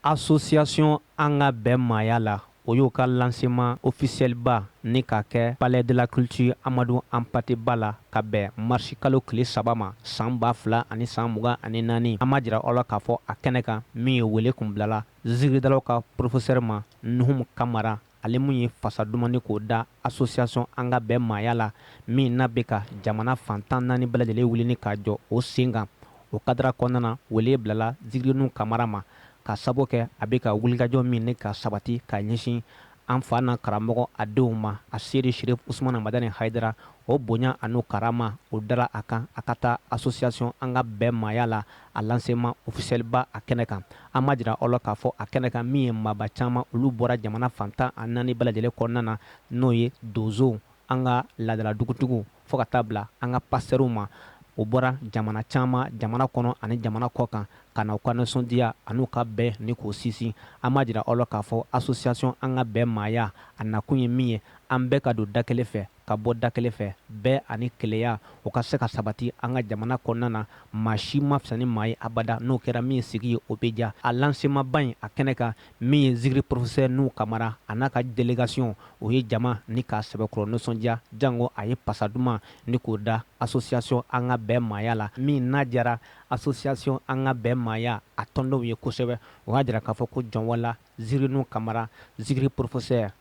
Asosiyasiɔn an ka bɛn maaya la o y'o ka lansema ofisiyɛliba ni k'a kɛ palɛ de la kulitiri Amadu Anpate Ba la ka bɛn marisikalo tile saba ma san ba fila ani san mugan ani naani an b'a jira aw la k'a fɔ a kɛnɛ kan min ye wele kun bilala zikiridalaw ka porofesɛri ma Nuhumu Kamara ale min ye fasa duman ni k'o da association an ka bɛn maaya la min n'a bɛ ka jamana fan tan ni naani bɛɛ lajɛlen wulini k'a jɔ o sen kan o kadara kɔnɔna na wele bilala zikiri Nuhu Kamara ma k'a sabu kɛ a bɛ ka wulikajɔ min ni k'a sabati k'a ɲɛsin an fa n'an karamɔgɔ a denw ma Aseyidi Sherif Usumana Madani Hayidara o bonya an'u karama o dara a kan a ka taa association an ka bɛn maaya la a lansema ofisiyɛliba a kɛnɛ kan an b'a jira aw la k'a fɔ a kɛnɛ kan min ye maaba caman olu bɔra jamana fan tan ani naani bɛɛ lajɛlen kɔnɔna na n'o ye donsow an ka laadala dugutigiw fo ka taa bila an ka pasitɛriw ma o bɔra jamana caman jamana kɔnɔ ani jamana kɔkan ka na u ka nisɔndiya an'u ka bɛn ni k'o sinsin an b'a jira aw la k'a fɔ asosiyasiɔn an ka bɛn maaya a nakun ye min ye an bɛɛ ka don da kelen fɛ ka bɔ da kelen fɛ, bɛn ani kelenya, o ka se ka sabati an ka jamana kɔnɔna na, maa si man fisa ni maa ye abada, n'o kɛra min sigi ye, o bɛ diya. A lansemaba in a kɛnɛ kan, min ye zikiri porofesɛ Nuhu Kamara a n'a ka delegasiɔn, o ye jama ni k'a sɛbɛkɔrɔ nisɔndiya, janko a ye pasa duman ni k'o da asosiyasiɔn An ka bɛn maaya la, min n'a diyara asosiyasiɔn An ka bɛn maaya a tɔndenw ye kosɛbɛ, o y'a jira k'a fɔ ko jɔnwala zikiri Nuhu Kamara, zikiri porofesɛ